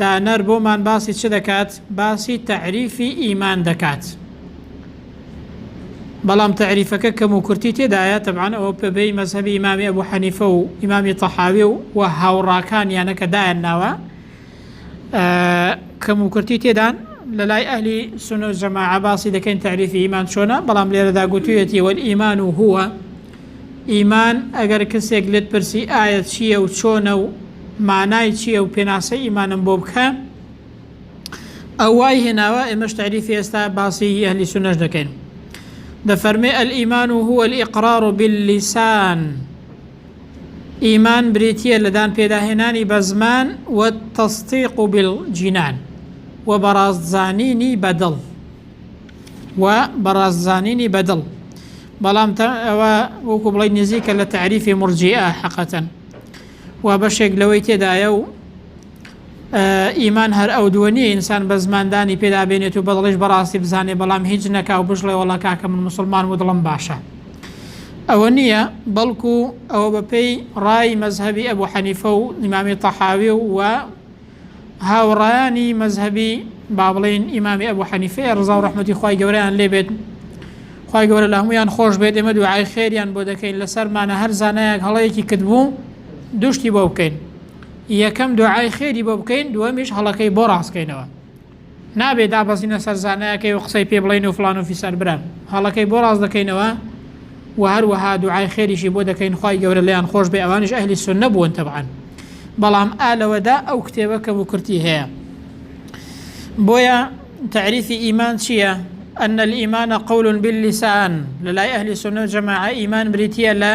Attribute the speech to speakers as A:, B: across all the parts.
A: دانەر بۆمان باسی چ دەکات؟ باسی تەعریفی ئیمان دەکات. بەڵام تەعریفەکە کەم و کورتی تێدایە تەبعان ئەوە پێبەی مەزهبی ئیمامی ئەبوو حەنیفە و ئیمامی تەحاوی و و هاوڕاکانیانە کە دایان ناوە کەم و کورتی تێدان لە لای ئەهلی سنە و جەماعە باسی دەکەین تەعریفی ئیمان چۆنە بەڵام لێرەدا گوتویەتی وەل ئیمان و هووە ئیمان، ئەگەر کەسێک لێت پرسی ئایا چییە و چۆنە و مانای چییە و پێناسەی ئیمانم بۆ بکە، ئەو وای هێناوە ئێمەش تەعریفی ئێستا باسی هی ئەهلی سوننەش دەکەین. دەفەرمێ الایمان هو الاقرار باللسان ئیمان بریتییە لە دان پێداهێنانی بە زمان و تصدیق بالجنان و بەڕاستزانینی بە دڵ. و بەڕاست زانینی بەدڵ بەڵام ئەوە وەکو بڵی نزیکە لە تعریفی مرجیئە حەقەتەن و بەشێک لەوەی تێدایە و ئیمان هەر ئەو دووە نیە ئینسان بە زماندانی پێدا بێنێت و بەدڵش بەڕاستی بزانێ بەڵام هیچ نەکا و بشڵێ وڵا کاکە من مسلمان و دڵم باشە ئەوە نییە بەڵکو ئەوە بەپێی ڕای مەذهبی ئەبوو حەنیفە و نیمامی تەحاوی و هاوڕایانی مەزهەبی با بڵێین ئیمامی ئەبوو حەنیفەیە ڕزا و ڕەحمەتی خوای گەورەیان لێ بێت خوای گەورە لە هەمویان خۆش بێت ئێمە دوعای خێریان بۆ دەکەین لەسەرمانە هەر زانایەک هەڵەیەکی کردبوو دوشتی بۆ بکەین یەکەم دوعای خێری بۆ بکەین دووەمیش هەڵەکەی بۆ ڕاستکەینەوە نابێ دابەزینە سەر زانایەکەی و قسەی پێ بڵێین و فڵان و فیسار برام هەڵەکەی بۆ ڕاست دەکەینەوە و هەروەها دوعای خێریشی بۆ دەکەین خوای گەورە لێیان خۆش بێ ئەوانیش ئەهلی سوننە بوون تەبعەن بەڵام ئا لەوەدا ئەو کتێبە کەم و کورتی هەیە بۆیە تعریفی ئیمان چییە أن الإيمان قول باللسان لەلای ئەهلی سنە جەماعە ئیمان بریتە لە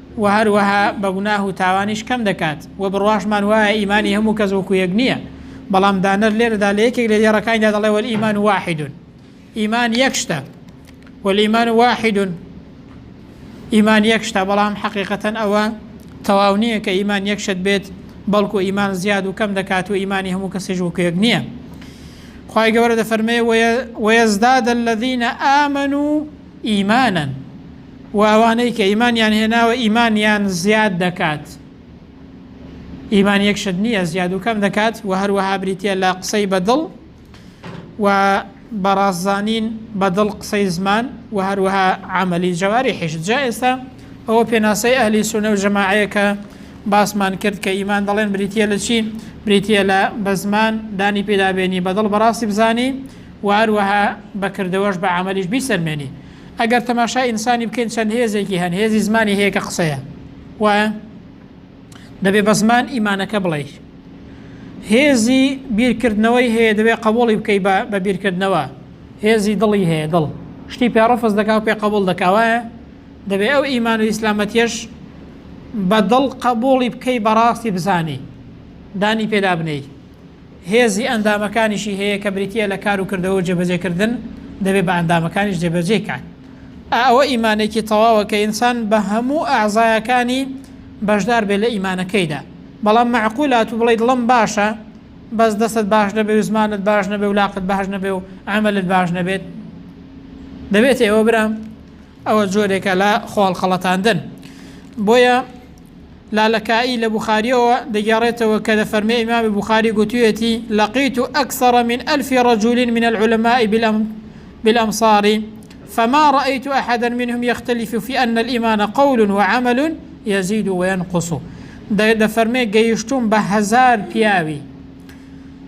A: وە هەروەها بە گوناه و تاوانیش کەم دەکات، وە بڕواشمان وایە ئیمانی هەموو کەس وەکو یەک نییە، بەڵام دانەر لێرەدا لە یەکێک لە دێڕەکانیدا دەڵێ والایمان واحد ئیمان یەک شتە والایمان واحد ئیمان یەک شتە بەڵام حەقیقەتەن ئەوە تەواو نییە کە ئیمان یەک شت بێت بەڵکو ئیمان زیاد و کەم دەکات و ئیمانی هەموو کەسێژ وەکو یەک نییە خی گەورە دەفەرمێ وەیەزداد الذینە ئامن و ئیمانن و ئەوانەی کە ئیمانیان هێناوە ئیمانیان زیاد دەکات ئیمان یەک شت نییە زیاد و کەم دەکات و هەروەها بریتە لە قسەی بەدڵ و بەڕازانین بەدڵ قسەی زمان و هەروەها عملی جەواری حیش جا ئێستا ئەوە پێناسەی ئەهلی سونە و جەماعەیەکە باسمان کرد کە ئیمان دەڵێن بریتە لە چی بریتە لە بە زمان دانی پێدابێنی بەدڵ بەڕاستی بزانی وە هەروەها بە کردەوەش بە عەمەلیش بیسەلمێنی ئەگەر تەماشای ئینسانی بکەین چەند هێزێکی هەن هێزی زمانی هەیە کە قسەیە وایە دەبێ بە زمان ئیمانەکە بڵێ هێزی بیرکردنەوەی هەیە دەبێ قبولی بکەی بە بیرکردنەوە هێزی دڵی هەیە دڵ شتی پێڕفز دەکا و پێ قبول دەکاوایە دەبێ ئەو ئیمان و ئیسلامەتیش بە دڵ قبولی بکەی بەڕاستی بزانی دانی پێدا بنیت هێزی ئەندامەکانیشی هەیە کە بریتییە لە کار و کردەوە و جێبەجێکردن، دەبێ بە ئەندامەکانیش جێبەجێی کات. ئا ئەوە ئیمانێکی تەواوە کە ئینسان بە هەموو ئەعزایەکانی بەشدار بێ لە ئیمانەکەیدا. بەڵام مەعقولە ئەتوو بڵێی دڵم باشە بەس دەستت باش نەبێ و زمانت باش نەبێ و لاقت باش نەبێ و عەمەلت باش نەبێت؟ دەبێت ئێوە برام ئەوە جۆرێکە لە خۆهەڵخەڵەتاندن. بۆیە. لالەکائی لە بوخارییەوە دەگێڕێتەوە کە دەفەرمێ ئیمامی بوخاری گوتویەتی لقیت اکثر من الف رجل من العلماء بالامصار فما رأیت احدا منهم یختلف فی ان الایمان قول وعمل یزید وینقص دەفەرمێ گەیشتوم بە هەزار پیاوی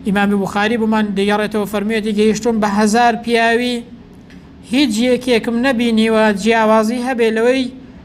A: ئیمامی بوخاری بمان دەگەڕێتەوە فەرموویەتی گەیشتوم بە هەزار پیاوی هیچ یەکێکم نەبینیوە جیاوازی هەبێ لەوەی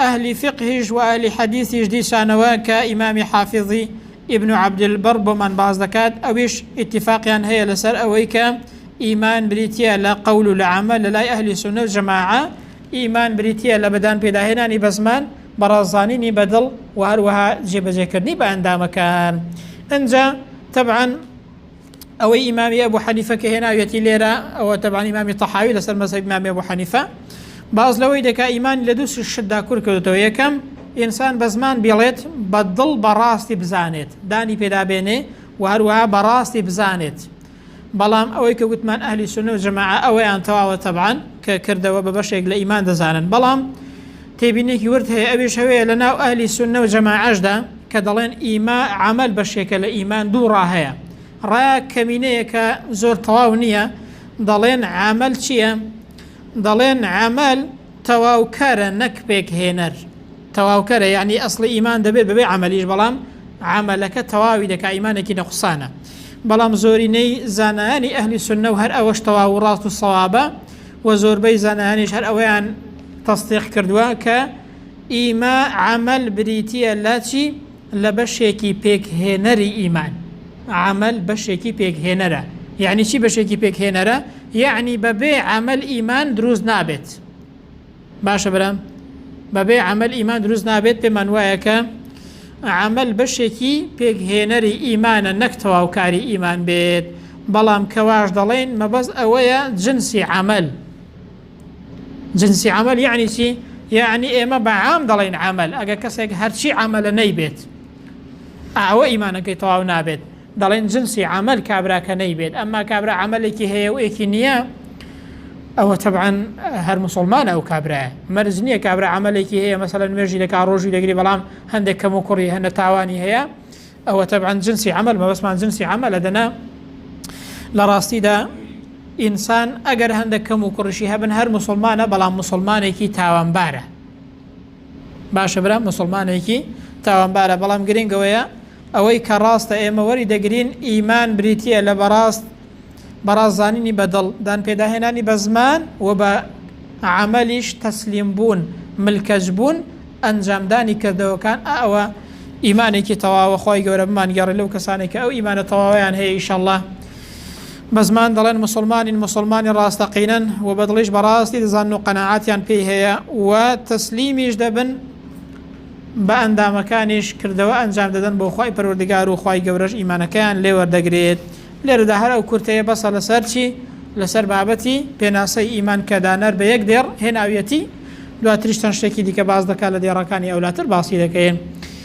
A: ئەهلی فیقهیش وئەهلی حەدیسیش دیسانەوە کە ئیمامی حافیزی، ابن عبد البر، بۆمان باس دەکات ئەویش ئیتیفاقیان هەیە لەسەر ئەوەی کە ئیمان بریتیە لە قەول و لە عەمەل لەلای ئەهلی سونە و جەماعە ئیمان بریتیە لە بەدان پێداهێنانی بە زمان بەڕاست زانینی بە دڵ وهەروەها جێبەجێکردنی بە ئەندامەکان ئنجا تەبعەن ئەوەی ئیمامی ئەبوو حەنیفە کە هێناویەتی لێرە ئەوە تەبان ئیمامی تەحاوی لەسەر مەسەب ئیمامی ئەبوو حەنیفە باز لەوەی دەکا ئیمان لە دوو شتدا کور کردێتەوە یەکەم ئینسان بە زمان بێڵێت بە دڵ بەڕاستی بزانێت دانی پێدابێنێ و هەروەها بەڕاستی بزانێت بەڵام ئەوەی کە گوتمان ئەهلی سنە و جەماعە ئەوەیان تەواوە تەبان کە کردەوە بە بەشێک لە ئیمان دەزانن بەڵام تێبینێکی ورد هەیە ئەویش ئەوەیە لە ناو ئەهلی سوننە و جەماعەشدا کە دەڵێن ئیما عەمەل بەشێکە لە ئیمان دوو ڕا هەیە ڕایەک کەمینەیە کە زۆر تەواو نییە دەڵێن عەمەل چییە دەڵێن عەمەل تەواوکەرە نەک پێکهێنەر تەواوکەرە یعنی ئەسڵی ئیمان دەبێت بەبێ عەمەلیش بەڵام عملەکە تەواوی دەکا ئیمانێکی نەقسانە بەڵام زۆرینەی زانایانی ئەهلی سنە و هەر ئەوەش تەواو و ڕاست و سەوابە و زۆربەی زانایانیش هەر ئەوەیان تەستیق کردووە کە ئیما عمل بریتیە لە چی لە بەشێکی پێکهێنەری ئیمان عمل بەشێکی پێکهێنەرە یعنی چی بەشێکی پێکهێنەرە یعنی بەبێ عمل ئیمان دروست نابێت باشە برام بەبێ عمل ئیمان دروست نابێت پێمان وایە کە عمل بەشێکی پێکهێنەری ئیمانە نەک تەواوکاری ئیمان بێت بەڵام کەواش دەڵێن مەبەز ئەوەیە جنسی عمل جنسی عمل یعنی چی یعنی ئێمە بەعام دەڵێن عمل ئەگە کەسێک هەرچی عملە نەیبێت ئەوە ئیمانەکەی تەواو نابێت دەڵێن جنسی عەمەل کابرا کە نەیبێت ئەمما کابرا عەمەلێکی هەیە و ئێکی نییە ئەوە تەبعەن هەر موسڵمانە ئەو کابرایە مەرج نییە کابرا عەمەلێکی هەیە مەسەلەن نوێژی دەکا ڕۆژی دەگری بەڵام هەندێک کەم و کوڕی هەنە تاوانی هەیە ئەوە تەبعەن جنسی عەمەل مەبەستمان جنسی عەمەلە دەنا لە ڕاستیدا ئینسان ئەگەر هەندێک کەم و کوڕیشی هەبن هەر موسڵمانە بەڵام موسڵمانێکی تاوانبارە باشە برا مسلمانێکی تاوانبارە بەڵام گرنگەوەیە ئەوەی کە ڕاستە ئێمە وەری دەگرین ئیمان بریتە لە بەڕاست بەڕاست زانینی بەدڵ دان پێداهێنانی بە زمان و بە عملیش تەسلیم بوون ملکەج بوون ئەنجامدانی کردەوەکان ئەوە ئیمانێکی تەواوە خی گەورە بمان گەڕێ لەو کەسانێک کە ئەو ئیمانە تەواویان هەیە ئیشەله بە زمان دەڵێن موسڵمانین، موسڵمانی ڕاستەقینەن و بە دڵیش بەڕاستی دەزانن و قەناعەتیان پێی هەیە و تەسلیمیش دەبن، بە ئەندامەکانیش کردەوە ئەنجام دەدەن بۆ خوای پەروەردگار و خوای گەورەش ئیمانەکەیان لێ وەردەگرێت. لێرەدا هەر ئەو کورتەیە بەسە لەسەر چی؟ لەسەر بابەتی پێناسەی ئیمان کە دانەر بە یەک دێڕ هێناویەتی، دواتریش چەند شتێکی دیکە باس دەکات لە دێڕەکانی ئەولاتر باسی دەکەین.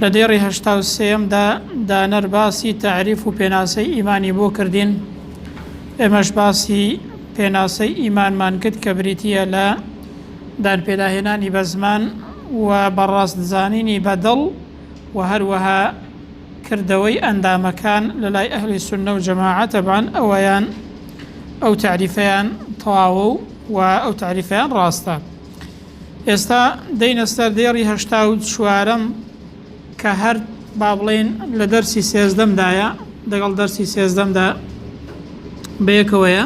A: لە دێڕی هەشتا و سێیەمدا دانەر باسی تەعریف و پێناسەی ئیمانی بۆ کردین ئێمەش باسی پێناسەی ئیمانمان کرد کە بریتییە لە دانپێداهێنانی بە زمان و بەڕاست زانینی بە دڵ و هەروەها کردەوەی ئەندامەکان لە لای ئەهلی سنە و جەماعە تەبان ئەوەیان ئەو تعریفەیان تەواوە و ئەو تعریفەیان ڕاستە ئێستا دێینە سەر دێڕی هەشتا و چوارەم کە هەر با بڵێن لە دەرسی سێزدەمدایە دەگەڵ دەرسی سێزدەمدا بەیەکەوەیە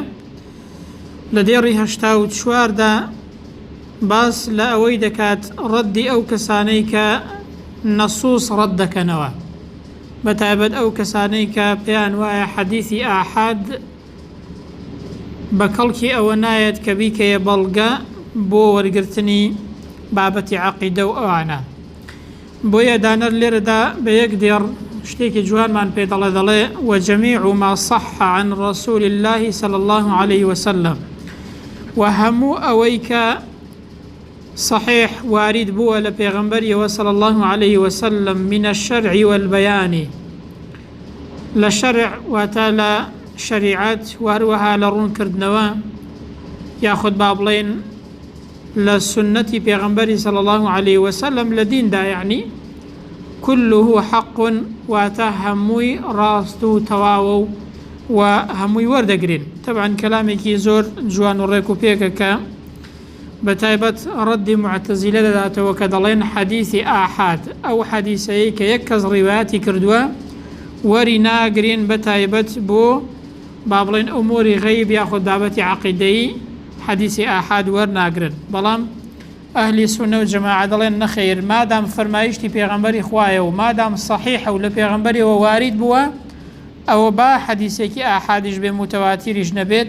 A: لە دێڕی هەشتا و چواردا باس لە ئەوەی دەکات ڕەدی ئەو کەسانەی کە نەسوس ڕەت دەکەنەوە بە تایبەت ئەو کەسانەی کە پێیان وایە حەدیثی ئاحاد بە کەڵکی ئەوە نایەت کە بیکەیە بەڵگە بۆ وەرگرتنی بابەتی عەقیدە و ئەوانە. بۆیە دانەر لێرەدا بە یەک دێڕ شتێکی جوانمان پێ دەڵێ دەڵێ وەجەمی عما صح عن رسول الله صلی الله عليه وسلم و هەموو ئەوەی کە صحیح وارید بووە لە پێغەمبەریەوە صلی اللە علیه وسلم من الشرع والبیان لە شەرع واتە لە شەریعەت وهروەها لە ڕوون کردنەوە یاخود با بڵێن لە سنەتی پێغەمبەری صلی اللە علیه وسلم لە دیندا یعنی كله حق واتە هەمووی ڕاست و تەواوە و و هەمووی وەردەگرین تەبان کەلامێکی زۆر جوان و ڕێک و پێکەکە بەتایبەت ڕەدی موعتەزیلە دەداتەوە کە دەڵێن حەدیسی ئاحاد ئەو حەدیسەی کە یەک کەس ڕیوایەتی کردووە وەری ناگرین بەتایبەت بۆ با بڵێن ئەموری غەیب یاخود بابەتی عقیدەیی حەدیسی ئاحاد وەرناگرن بەڵام ئەهلی سونە و جەماعە دەڵێن نەخەیر مادام فەرمایشتی پێغەمبەری خوایە و مادام صحیحە و لە پێغەمبەریەوە وارید بووە ئەوە با حەدیسێکی ئاحادیش بێ موتەواتیریش نەبێت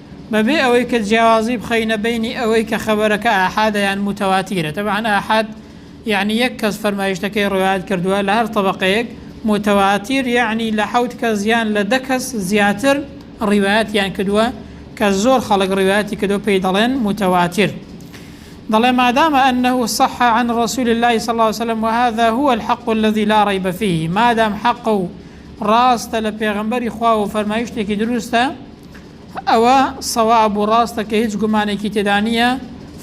A: بەبێ ئەوەی کە جیاوازی بخەینە بەینی ئەوەی کە خەبەرەکە ئاحادە یان موتەواتیرە، تەبعەن ئاحاد یەعنی یەک کەس فەرمایشتەکەی ڕوایەت کردووە لە هەر تەبەقەیەک، موتەواتیر یەعنی لە حەوت کەس یان لە دە کەس زیاتر ڕیوایەتیان کردووە، کە زۆر خەڵک ڕیوایەتی کردووە پێی دەڵێن موتەواتیر. دەڵێ مادام انه صح عن رسول اللە صلی اللە علیە وسلم وهذا هو الحق الذی لا ریب فیه مادام حەقە و ڕاستە لە پێغەمبەری خوا و فەرمایشتێکی دروستە، ئەوە صەواب و ڕاستە کە هیچ گومانێکی تێدا نییە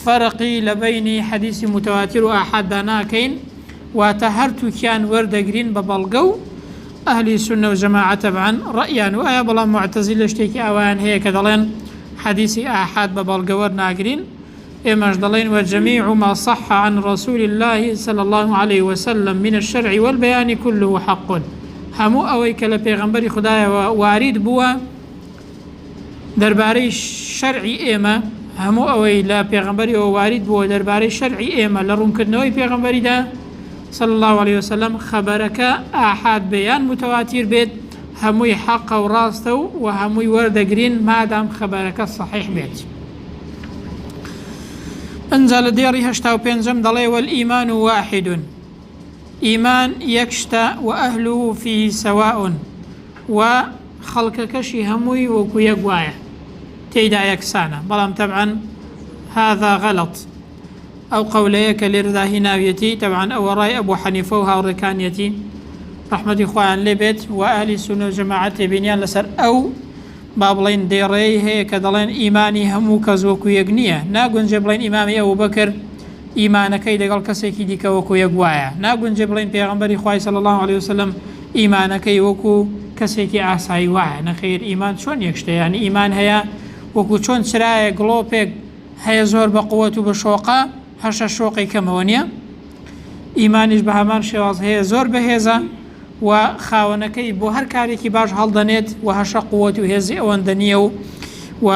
A: فەرقی لە بەینی حەدیسی متواتر و ئاحاددا ناکەین واتە هەرتووکیان وەردەگرین بە بەڵگە و ئەهلی سونە و جەماعە تەبعەن ڕەئیان وایە بەڵام موعتەزیلە شتێکی ئاوایان هەیە کە دەڵێن حەدیسی ئاحاد بە بەڵگە وەرناگرین ئێمەش دەڵێین، وجمیع ما صح عن رسول اللە صلی اللە علیە وسلم من الشرع والبیان کله حق هەموو ئەوەی کە لە پێغەمبەری خودایەوە وارید بووە دەربارەی شەرعی ئێمە هەموو ئەوەی لە پێغەمبەریەوە وارید بووە دەربارەی شەرعی ئێمە لە ڕوونکردنەوەی پێغەمبەریدا صلی اللە علیە وسلم خەبەرەکە ئاحاد بێیان متواتیر بێت هەمووی حەقە و ڕاستە و و هەمووی وەردەگرین مادام خەبەرەکە صحیح بێت ئنجا لە دێڕی هەشتا و پێنجەم دەڵێ وەل ئیمان و واحدون ئیمان یەک شتە و ئەهل و فی سەواون و خەڵکەکەشی هەمووی وەکو یەک وایە تێیدا یەکسانە بەڵام تەبعەن هذا غەڵت ئەو قەولەیە کە لێرەدا هی ناویەتی تەبعان ئەوە ڕای ئەبوو حەنیفە و هاوڕێکانیەتی ڕحمەتی خۆیان لێ بێت و ئەهلی سونە و جەماعەت تێبینیان لەسەر ئەو با بڵێین دێڕێی هەیە کە دەڵێن ئیمانی هەموو کەس وەکو یەک نییە، ناگونجێ بڵێین ئیمامی ئەبوبەکر ئیمانەکەی دەگەڵ کەسێکی دیکە وەکو یەک وایە، ناگونجێ بڵێین پێغەمبەری خوای صلی اللە علیە وسلم ئیمانەکەی وەکو کەسێکی ئاسایی وایە، نەخێر ئیمان چۆن یەک شتە یانی ئیمان هەیە وەکو چۆن چرایەک گڵۆپێک هەیە زۆر بە قوەت و بە شۆقە، هەرچە شۆقی کەمەوە نیە. ئیمانیش بە هەمان شێواز هەیە زۆر بەهێزە و خاوەنەکەی بۆ هەر کارێکی باش هەڵدەنێت و هەشە قووەت و هێزی ئەوەندە نییە و و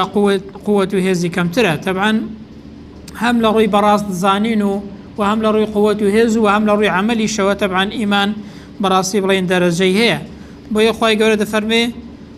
A: قووەت و هێزی کەمترە تەبان هەم لە ڕووی بەڕاست زانین و و هەم لە ڕووی قووەت و هێز و هەم لە ڕووی عملیشەوە تەبان ئیمان بەڕاستی بڵێن دەرەجەی هەیە بۆیە خی گەورە دەفەرمێ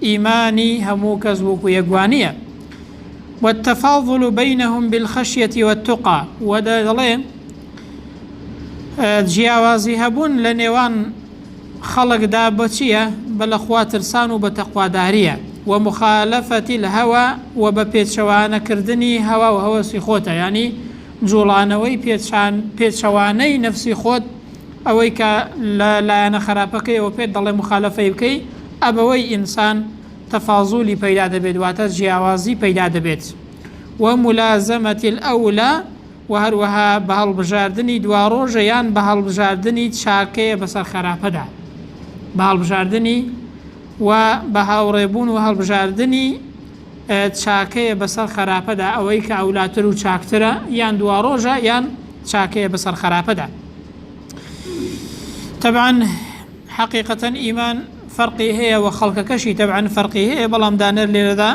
A: ئیمانی هەموو کەس وەکو یەک وانیە والتفاضل بینهم بالخشیە والتقی وە دەڵێ جیاوازی هەبوون لە نێوان خەڵکدا بەچیە بە لە خوا ترسان و بە تەقواداریە و مخالفەتی لە هەوا و بە پێچەوانەکردنی هەوا و هەوەسی خۆتە ینی جوڵانەوەی پێچان پێچەوانەی نەفسی خۆت ئەوەی کە لە لایەنە خەراپەکەیەوە پێت دەڵێ موخالەفەی بکەی ئەبەوەی ئینسان تەفازولی پەیدا دەبێت واتە جیاوازی پەیدا دەبێت و مولازەمەتی الاولی و هەروەها بە هەڵبژاردنی دواڕۆژە یان بە هەڵبژاردنی چاکەیە بەسەر خەراپەدا بە هەڵبژاردنی و بە هاوڕێبوون و هەڵبژاردنی چاکەیە بەسەر خەراپەدا ئەوەی کە ئەولاتر و چاکترە یان دواڕۆژە یان چاکەیە بەسەر خەراپەدا تەبان حەقیقەتەن ئیمان فەرقی هەیە و خەڵکەکەشی تەبان فەرقی هەیە بەڵام دانەر لێرەدا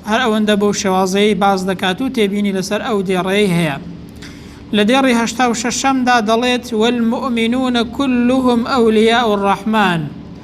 A: هەر ئەوەندە بۆ شێوازەیە باز دەکات و تێبینی لەسەر ئەو دێڕەیە هەیە لە دێڕی هەشتا و شەشەمدا دەڵێت وەلمؤمنونە كلهم ئەولیا و ڕەحمان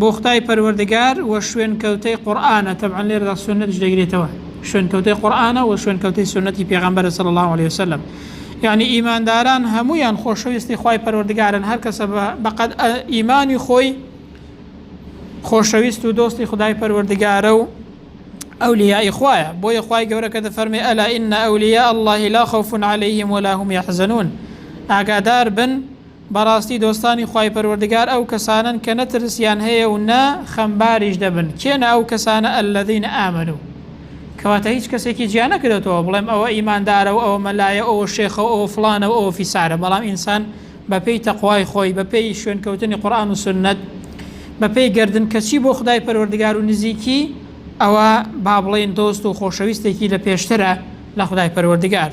A: بۆ خودای پەروەردگار و شوێنکەوتەی قورئانە، تەبعەن لێرەدا سوننەتیش دەگرێتەوە، شوێنکەوتەی قورئانە و شوێنکەوتەی سوننەتی پێغەمبەرە صلی اللە علیە وسلم، یەعنی ئیمانداران هەموویان خۆشەویستی خوای پەروەردگارن، هەر کەسە بە قەد ئیمانی خۆی خۆشەویست و دۆستی خودای پەروەردگارە و ئەولیای خوایە، بۆیە خوای گەورە کە دەفەرمێ ئەلا ئین ئەولیا اللە لا خوف علیهم ولا هم یحزنون ئاگادار بن بەڕاستی دۆستانی خوای پەروەردگار ئەو کەسانەن کە نە ترسیان هەیە و نە خەمباریش دەبن، کێنە ئەو کەسانە الذین آمنوا کەواتە هیچ کەسێکی جیا نەکرێتەوە بڵێم ئەوە ئیماندارە و ئەوە مەلایە و ئەوە شێخە و ئەوە فڵانە و ئەوە فیسارە بەڵام ئینسان بە پێی تەقوای خۆی بە پێی شوێنکەوتنی قورئان و سوننەت بە پێی گەردن کەچی بۆ خودای پەروەردگار و نزیکی ئەوە با بڵێین دۆست و خۆشەویستێکی لە پێشترە لە خودای پەروەردگار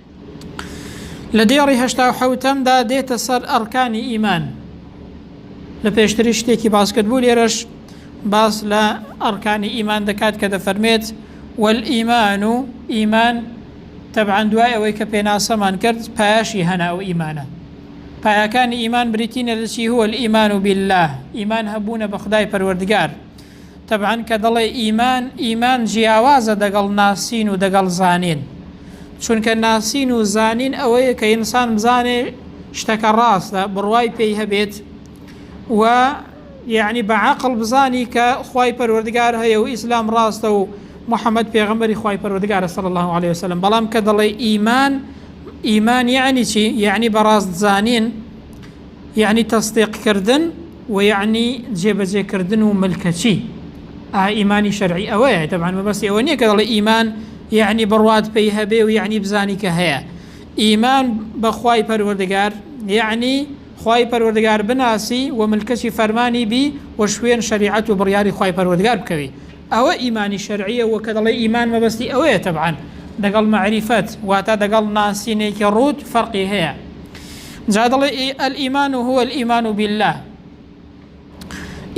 A: لە دێڕی هەشتا و حەوتەمدا دێتە سەر ئەڕکانی ئیمان لە پێشتری شتێکی باسکرد بوو لێرەش باس لە ئەڕکانی ئیمان دەکات کە دەفەرمێت والئیمان و ئیمان تەبعاان دوای ئەوەی کە پێناسەمان کرد پایشی هەنا و ئیمانە پایەکانی ئیمان بریتینە لەچی هو ئیمان و بالله ئیمان هەبوونە بە خدای پەروەردگار تەبعەن کە دەڵێ ئیمان، ئیمان جیاوازە دەگەڵ ناسین و دەگەڵ زانین. چونکە ناسین و زانین ئەوەیە کە ئینسان بزانێ شتەکە ڕاستە، بڕوای پێی هەبێت و یعنی بە عەقڵ بزانی کە خوای پەروەردگار هەیە و ئیسلام ڕاستە و محەممەد پێغەمبەری خوای پەروەردگارە صلی الله علیه وسلم بەڵام کە دەڵێ ئیمان ئیمان یعنی چی؟ یعنی بەڕاست زانین یەعنی تەسدیق کردن وە یەعنی جێبەجێ کردن و ملکەچی ئا ئیمانی شەرعی ئەوەیە تەبان مەبەستی ئەوە نییە کە دەڵێ ئیمان یەعنی بڕوات پێی هەبێ و یەعنی بزانی کە هەیە ئیمان بەخوای پەروەردگار یەعنی خوای پەروەردگار بناسی و ملکەچی فەرمانی بی و شوێن شەریعەت و بڕیاری خوای پەروەردگار بکەوی ئەوە ئیمانی شەرعیە و کە دەڵێی ئیمان مەبەستی ئەوەیە تەبعەن دەگەڵ مەعریفەت واتە دەگەڵ ناسینێکی ڕووت فەرقی هەیە جا دەڵێ الایمان و هو الایمان بالله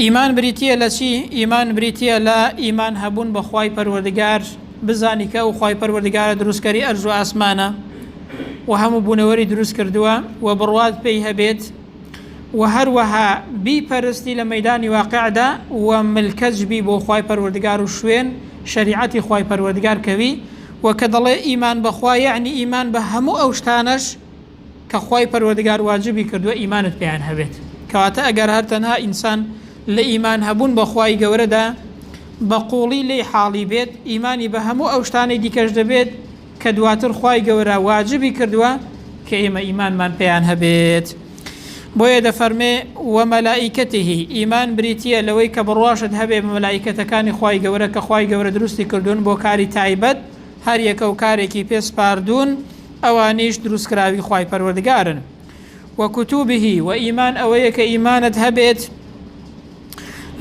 A: ئیمان بریتیە لە چی ئیمان بریتیە لە ئیمان هەبوون بە خوای پەروەردگار بزانی کە ئەو خوای پەروەردگارە دروستکەری ئەرز و ئاسمانە و هەموو بوونەوەری دروست کردووە و بڕوات پێی هەبێت وە هەروەها بیپەرستی لە مەیدانی واقعدا و ملکەچ بی بۆ خوای پەروەردگار و شوێن شەریعەتی خوای پەروەردگار کەوی وە کە دەڵێ ئیمان بە خوا یەعنی ئیمان بە هەموو ئەو شتانەش کە خوای پەروەردگار واجبی کردووە ئیمانت پێیان هەبێت کەواتە ئەگەر هەر تەنها ئینسان لە ئیمان هەبوون بە خوای گەورەدا بە قوڵی لێی حاڵی بێت ئیمانی بە هەموو ئەو شتانەی دیکەش دەبێت کە دواتر خوای گەورە واجبی کردووە کە ئێمە ئیمانمان پێیان هەبێت بۆیە دەفەرمێ وە مەلائیکەتیهی ئیمان بریتییە لەوەی کە بڕواشت هەبێ بە مەلائیکەتەکانی خوای گەورە کە خوای گەورە دروستی کردوون بۆ کاری تایبەت هەر یەکە و کارێکی پێ سپاردوون ئەوانیش دروستکراوی خوای پەروەردگارن وە کوتوبیهی وە ئیمان ئەوەیە کە ئیمانت هەبێت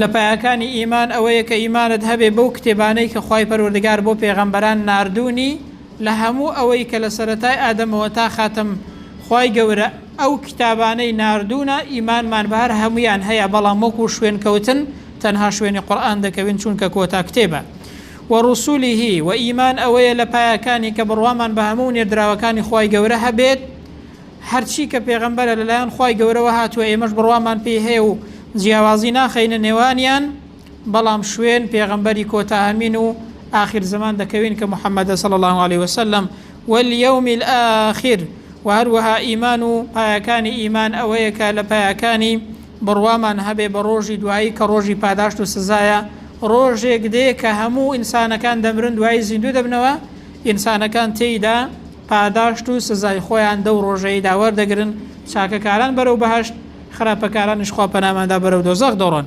A: لە پایەکانی ئیمان ئەوەیە کە ئیمانت هەبێ بەو کتێبانەی کە خوای پەروەردگار بۆ پێغەمبەران ناردوونی لە هەموو ئەوەی کە لە سەرەتای ئادەمەوە تا خاتم خوای گەورە ئەو کتابانەی ناردوونە ئیمانمان بە هەر هەموویان هەیە بەڵام وەکو شوێنکەوتن تەنها شوێنی قورئان دەکەوین چونکە کۆتا کتێبە و رسوله وە ئیمان ئەوەیە لە پایەکانی کە بڕوامان بە هەموو نێردراوەکانی خوای گەورە هەبێت هەرچی کە پێغەمبەرە لەلایەن خوای گەورەوە هاتووە ئێمەش بڕوامان پێی هەیە و جیاوازی ناخەینە نێوانیان بەڵام شوێن پێغەمبەری کۆتا ئەمین و ئاخر زەمان دەکەوین کە محەممەدە صلی الله علیه وسلم واليوم الآخر و هەروەها ئیمان و پایەکانی ئیمان ئەوەیە کە لە پایەکانی بڕوامان هەبێ بە ڕۆژی دوایی کە ڕۆژی پاداشت و سزایە ڕۆژێک دێ کە هەموو ئینسانەکان دەمرن دوایی زیندوو دەبنەوە ئینسانەکان تێیدا پاداشت و سزای خۆیان دەو ڕۆژەیدا وەردەگرن، چاکەکاران بەرەو بەهەشت، خراپەکارانیش خوا پەناماندا بەرەو دۆزەخ دەڕۆن.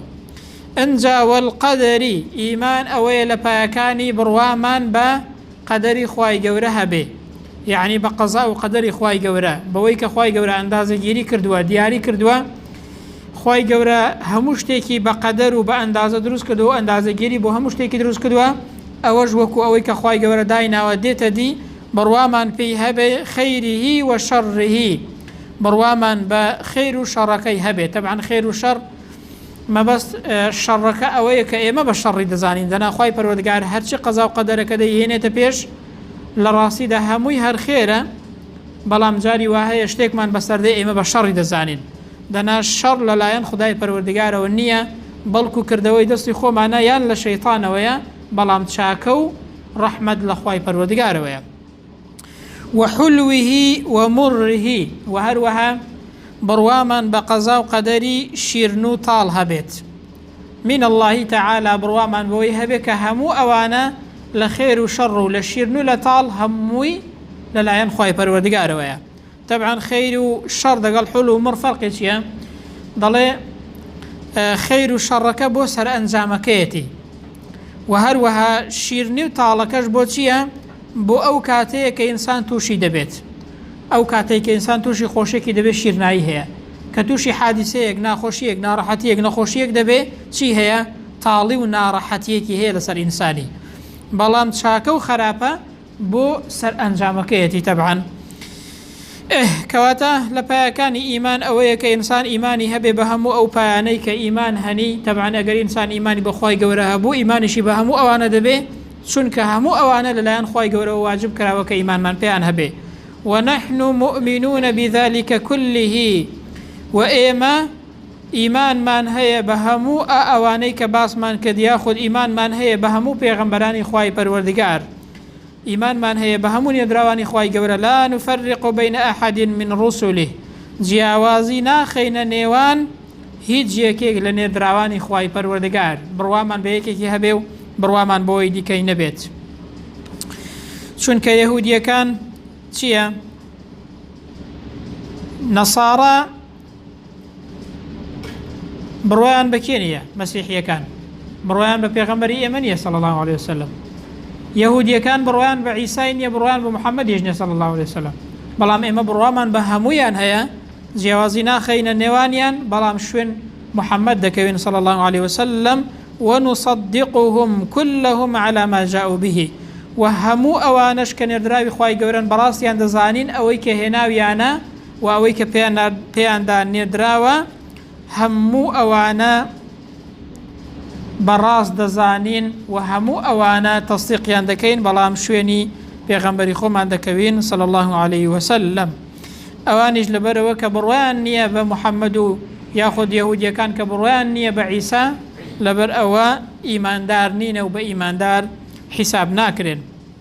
A: ئنجا والقدری، ئیمان ئەوەیە لە پایەکانی بڕوامان بە قەدەری خوای گەورە هەبێ، یەعنی بە قەزا و قەدەری خوای گەورە، بەوەی کە خوای گەورە ئەندازەگیری کردووە، دیاری کردووە، خوای گەورە هەموو شتێکی بە قەدەر و بە ئەندازە دروست کردووە و ئەندازەگیری بۆ هەموو شتێکی دروست کردووە، ئەوەش وەکو ئەوەی کە خوای گەورە دایناوە دێتە دی، بڕوامان پێی هەبێ خیریه و شەڕیه، بڕوامان بە خێر و شەڕەکەی هەبێ، تەبعەن خێر و شەڕ مەبەست شەڕەکە ئەوەیە کە ئێمە بە شەڕی دەزانین، دەنا خوای پەروەردگار هەرچی قەزا و قەدەرەکە دەیهێنێتە پێش لە ڕاستیدا هەمووی هەر خێرە، بەڵام جاری وا هەیە شتێکمان بەسەردێ ئێمە بە شەڕی دەزانین، دەنا شەڕ لەلایەن خودای پەروەردگارەوە نییە، بەڵکو کردەوەی دەستی خۆمانە یان لە شەیتانەوەیە، بەڵام چاکە و ڕەحمەت لە خوای پەروەردگارەوەیە و حلوه و مره و هەروەها بڕوامان بە قەزا و قەدەری شیرن و تاڵ هەبێت من اللهی تعالی بڕوامان بەوەی هەبێت کە هەموو ئەوانە لە خێر و شەڕ و لە شیرن و لە تاڵ هەمووی لەلایەن خی پەروەردگارەوەیە تەبعەن خەیر و شەڕ دەگەڵ حول و مڕ فەرقێکیە دەڵێ خەیر و شەڕەکە بۆ سەرئەنجامەکەیەتی و هەروەها شیرنی و تاڵەکەش بۆ چییە بۆ ئەو کاتەیە کە ئینسان تووشی دەبێت ئەو کاتێک کە ئینسان تووشی خۆشێکی دەبێت شیرنایی هەیە کە تووشی حادیسەیەک ناخۆشیەک ناڕەحەتیەک نەخۆشیەک دەبێ چی هەیە تاڵی و ناڕەحەتیەکی هەیە لەسەر ئینسانی بەڵام چاکە و خراپە بۆ سەر ئەنجامەکەیەتی تەبعەن. ئه کەواتە لە پایەکانی ئیمان ئەوەیە کە ئینسان ئیمانی هەبێ بە هەموو ئەو پایانەی کە ئیمان هەنی تەبعەن ئەگەر ئینسان ئیمانی بەخوای گەورە هەبوو ئیمانیشی بە هەموو ئەوانە دەبێ چونکە هەموو ئەوانە لەلایەن خوای گەورەوە واجب کراوە کە ئیمانمان پێیان هەبێ ونحن مؤمنون بذلك كله و ئێمە ئیمانمان هەیە بە هەموو ئە ئەوانەی کە باسمان کرد یاخود ئیمانمان هەیە بە هەموو پێغەمبەرانی خوای پەروەردگار ئیمانمان هەیە بە هەموو نێردراوانی خوای گەورە لا نفرق بین احد من رسله جیاوازی ناخەینە نێوان هیچ یەکێک لە نێردراوانی خوای پەروەردگار بڕوامان بە یەکێکی هەبێ و بڕوامان بۆی دیکەی نەبێت چونکە یەهودیەکان چییە نەسارا بڕوایان بە کێ نییە مەسیحیەکان بڕوایان بە پێغەمبەری ئێمە نیە سەڵ الله عليه وسلم یهودیەکان بڕوایان بە عیسای نییە بڕوان بە محەممەد هێژنە سەڵ الله عليه وسلم بەڵام ئێمە بڕوامان بە هەمویان هەیە جیاوازی ناخەینە نێوانیان بەڵام شوێن محەممەد دەکەوێن سەڵ الله عليه وسلم ونصدقهم كلهم على ما جاءوا به و هەموو ئەوانش کە نێردراوی خی گەورن بەڕاستیان دەزانین ئەوەی کە هێناویانە و ئەوەی کە پێیاندا نێدراوە، هەموو ئەوانە بەڕاست دەزانین و هەموو ئەوانە تەستیقیان دەکەین بەڵام شوێنی پێغەمبەری خۆمان دەکەوین صلی الله عليه وسلم ئەوانیش لەبەرەوە کە بڕوایان نییە بە محەممەد و یاخود یهودیەکان کە بڕوایان نییە بە عیسا لەبەر ئەوە ئیماندار نینە و بە ئیماندار حیساب ناکرێن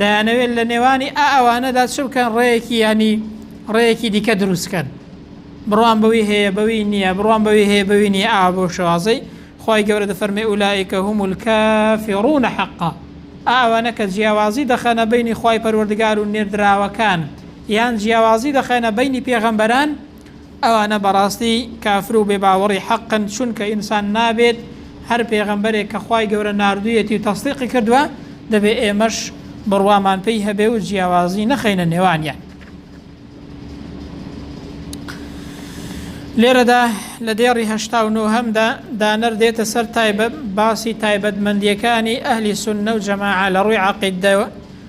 A: دەیانەوێت لە نێوانی ئا ئەوانەدا چ بکەن ڕێیەکی یانی ڕێیەکی دیکە دروستکەن بڕوان بەوی هەیە بەوی نییە بڕوان بەوی هەیە بەوی نیە ئا بۆ شوازەی خی گەورە دەفەرمی ئولائیکە هوم الکە فێڕونە حەقا ئاوانە کە جیاوازی دەخەنە بینی خی پەروەردگار و نێردراوەکان یان جیاوازی دەخەنە بینی پێغەمبەران ئەوانە بەڕاستی کافر و بێباوەڕی حەقن، چونکە ئینسان نابێت هەر پێغەمبەرێک کە خوای گەورە ناردوویەتی و تەسدیقی کردووە، دەبێت ئێمەش بڕوامان پێی هەبێ و جیاوازی نەخەینە نێوانیان. لێرەدا لە دێڕی هەشتا و نۆهەمدا دانەر دێتە سەر باسی تایبەتمەندییەکانی ئەهلی سوننە و جەماعە لە ڕووی عەقیدەوە،